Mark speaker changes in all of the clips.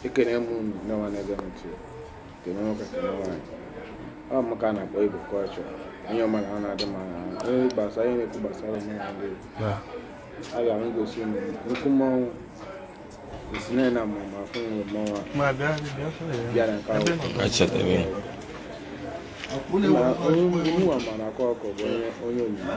Speaker 1: ekene m unu ndị nwa na-ege m ntị kene nwoke kene nwaanyị ọ m ka a na-akpọ Igbo culture onye ọma na ọ na-adị mma na ahụ onye gbasara ihe na-ekwu gbasara omenala ndị Igbo aga m egosi unu nnukwu mmọnwụ esi na na mmụọ ma afụ nwere mmọnwụ a Ma bịa bịa sọrọ ya. bịa na nke ahụ Achọtabeghị. Nna- onye mụnwa ma na-akọ ọkọ bụ onye onye onyinye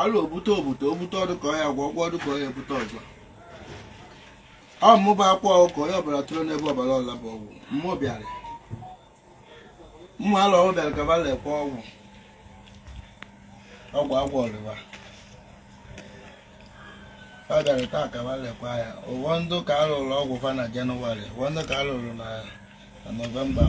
Speaker 1: alụ obute obute obute ọdụ ka ọya gwọ ọgwọ ọdụ ka ọya ebute ọzọ ọ mụba akwa ọgwụ ka onye ọbara tụrụ n'ebe ọbara ọla bụ ọgwụ mmụọ bịara mmụ alụ ọgwụ bịara kaba lekwa ọgwụ ọgwụ agwọ ọrịwa ọ bịara taa kaba lekwa ya ụwa ndụ ka a lụrụ ọgwụ fa na January ụwa ndụ ka a lụrụ na na November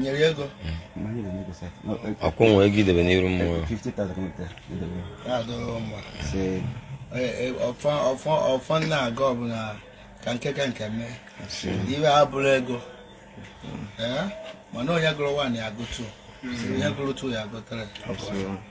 Speaker 1: nyere ya ego ọkwụ nwere ego idebe n'iru mmụọ na-adọrọ mma ọfọ na-aga ọbụla ka nke ka nke mee ife abụrọ ego mana onye gụrụ one agụ two onye gụrụ two ya agụ three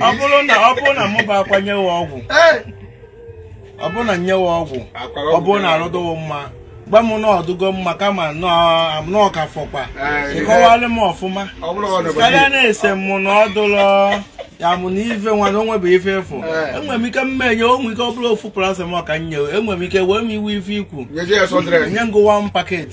Speaker 1: ọ bụrụ na ọ bụrụ na mụ bụ akwa nyewe ọgwụ ọ bụrụ na nyewe ọgwụ ọ bụrụ na arụ dụwo mma gwa m na ọ dụgo mma kama na ọ ka fọkwa ị kọwalị m ọfụma karịa na ị sị m na ọ dụlọ ya mụ na ife nwa na onwe bụ ife efu eh. enwere m ike mma enye o nwe ike ọ bụrụ ofu paracetamol ka m nyewe enwere m ike wee m iwe ife ikwu nye ngụwa m packet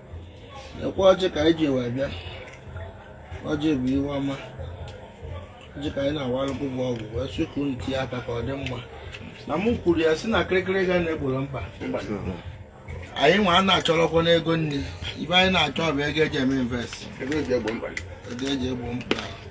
Speaker 1: okwu ọjị ka anyị ji wee bịa ọjị bụ ife ọma ọjị ka anyị na-awalụkwụ bụ ọgwụ wee sị ka unu tinye aka ka ọ dị mma na mụ kwuru ya sị na kịrịkịrị ga na-egboro mkpa anyị nwa a na-achọrọkwa n'ego nri ife anyị na-achọ bụ ego e ji eme invest ego e ji egbo mkpa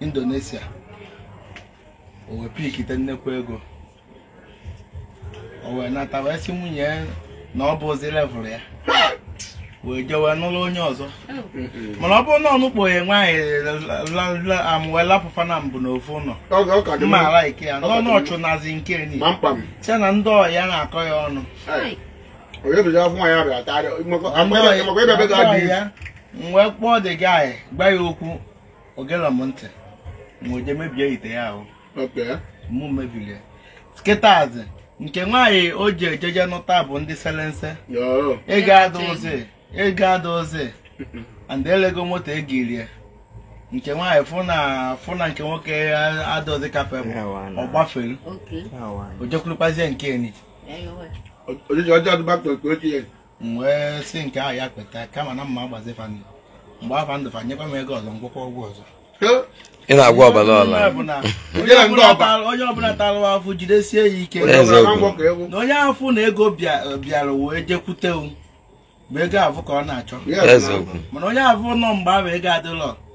Speaker 1: Indonesia o wee pikite nnekwu ego o wee nata wee sị nwunye ya na ọ bụrọzi level ya wee jee wee nụrụ onye ọzọ mana ọ bụrụ na ọ nụkpo ya nwaanyị a wee lapụ fa naabọ n'ofu ụlọ Ọ ga- ọ ka dị mma mma. ala ike ya n'ọnụ ọ chụnazi nke ni Ma mkpa m. sị na ndị ọyị ya na-akọ ya ọnụ Ai. Onye bụzi afọ nwaanyị abịara tarị. Ndị ọyị- Makwa ebe ebe ga-adị. ndị ọyị ya, m wee kpọọ the guy gwa ya okwu o gere m ntị wee je mebie ite ya ahụ Okay. mụ mebiri ya kịtazi nke nwaanyị o ji ejeje nụta bụ ndị selense Yoo. ego adụzi ego adụzi and elego moto ego erie nke nwaanyị fụ na fụ na nke nwoke adụzi ka ife ọ bụ ọ gbafere Okay. o jekwurukwazie nke enyi Anyway. Ojiji ọjọọ dị back to nke ochie. m wee sị nke ahụ ya kweta kama na mma agbazi fa ndụ m gbaa fa ndụ fa nyekwa m ego ọzọ m gwọkwa ọgwụ ọzọ ị na-agwa ọbara ọla Onye ọbụla- Onye onye ọbụla ọba. tara- onye ọbụla tara afụ jidesie ya ike Onye ọbụla Eziokwu. agwọ ka ewu. na onye afụ na ego bịa- bịara wee jekwute m bụ ego afụ ka ọ na-achọ Yes, Eziokwu. mana onye afụ nọ mgbe ahụ ego adịlọ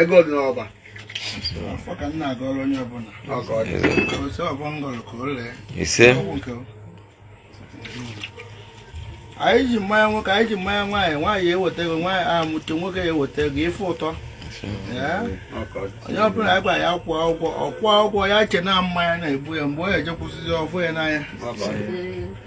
Speaker 1: ego dị n'ọba afụ ka m na-agọrọ onye ọbụla ọ ka ọ dị o si ọbọ ngọrọ ka o lee ise ọgwụ nke o. anyị ji mmanya nwoke anyị ji mmanya nwaanyị nwaanyị eweta ego nwaanyị amụte nwoke eweta ego ife ụtọ Ee. ọ ka ọ dị onye ọbụla anyị gwara ya kwụọ ụgwọ ọ kwụọ ụgwọ ya che na mmanya na-egbu ya mgbe ọ ya-ejekwụsịzi ọ fụ ya n'anya ọ ka ọ dị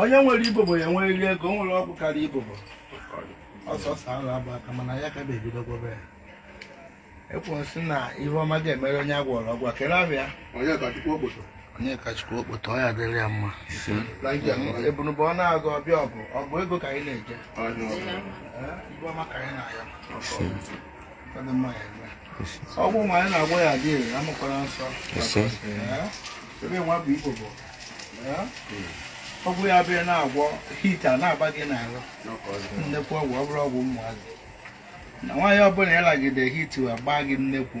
Speaker 1: onye nwere ibobo ya-enwerịrị ego o nwere ọgwụ karịa ibobo ọsọsọ ala bụ aka mana ya ka ga-ebidogobe ya ekwensị na ife ọma ga-emere onye a gwọrọ ọgwụ a kere abịa onye ka chukwu okpoto onye ka chukwu okpoto ọ ya-adịrị ya mma ebunubụ ọ na-agụ ọbịa ọgụ ọgụ ego ka anyị na-eje ọnụ ọgụ Eh, ife ọma ka anyị na-ayọ ọgwụ nwa anyị na-agwọ ya-adị ire amụkwara nsọ ebe nwa bụ ibobo ọgwụ ya bịa na-agwọ heat ana-agba gị n'ahụ nnekwu ọgwụ ọ bụrụ ọgwụ ụmụazị na nwaanyị ọbụla ị lagide heat agba gị nnekwu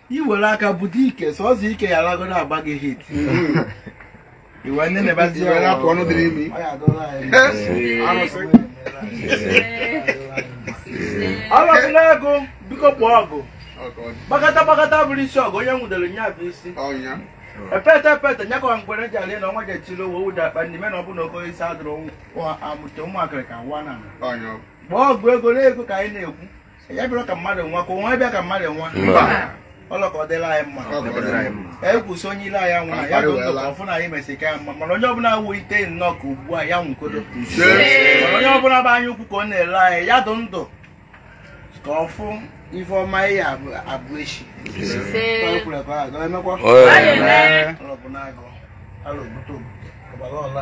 Speaker 1: i were aka bute ike sọsọ ike ya alagodo agba gị heat iwe ndị na-ebazi Iwe na-apụ ọnụ dị n'imi. ọlọsị na-agụ biko kpọọ ọgwụ gbakọta gbakọta bụrụ isi ọgwụ onye nwudere nya bụ isi Ọnya. epete epete nya kọwa mgbere ji alị na ọnwa ji etili owe ụda akpa n'ime na ọ bụ na ogo isi adụrụ amụta ụmụakịrị ka nwa na Ọnya. gbaa ọgwụ ego na ego ka anyị na-ekwu ya bịara ka mmadụ nwa ka onwe bịa ka mmadụ nwa Mba. ọlọka ọ dịla anyị mma Ọ dịla anyị mma. ka anyị kwụsị onye ilo anyị nwa ya dụ ndụ ka ọ fụ na anyị mesị ka ya mma mana onye ọbụla awụ ite nnọọ ka ugbu a ya nwụkodo mana onye ọbụla bụ anya ukwu ka ọ na-ele anyị ya dụ ndụ ka ọ fụ ife ọma ihe abụ abụ echi Ka o kwuru ka ọ ga emekwa Ọ ya-eme. ọlọbụ na-agụ alụ obodo obodo ọgbara ọla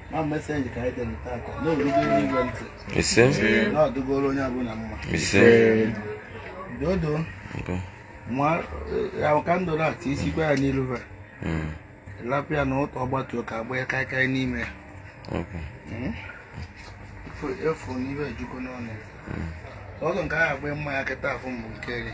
Speaker 1: ma message ka anyị dere tata na-erugo n'igwe ntị ise na-adụgoro onye ọbụla mma ise dodo nke ma ahụ ka ndụrụ atụ isikwa ya n'iru ha mm, lapụ ya na ụtọ ọgbatuo ka agba ya kaikai n'ime ya ok Mm. Efu- efu n'ibe ejugo n'ọnụ ọzọ nke ahụ agba mma ya kịta afụ mbụ nke eri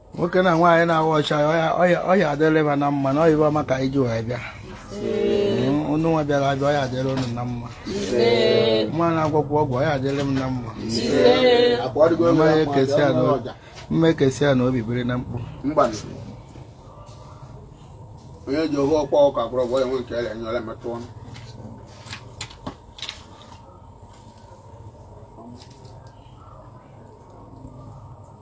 Speaker 1: nwoke na nwaanyị na-awa ọjị ọ ya-adịrị m na mma na ọyịba ọma ka anyị ji wee bịa unu nwa bịara abịa ọ ya-adịrị unu na mma ma na-agwakwa ọgwụ ọ ya-adịrị m na mma ma e kesịa n'obi biri na mkpu onye ji ohu ọkwa ọka gwọrọ ọgwụ ya nwe nke ya enye ọla metụ ọnụ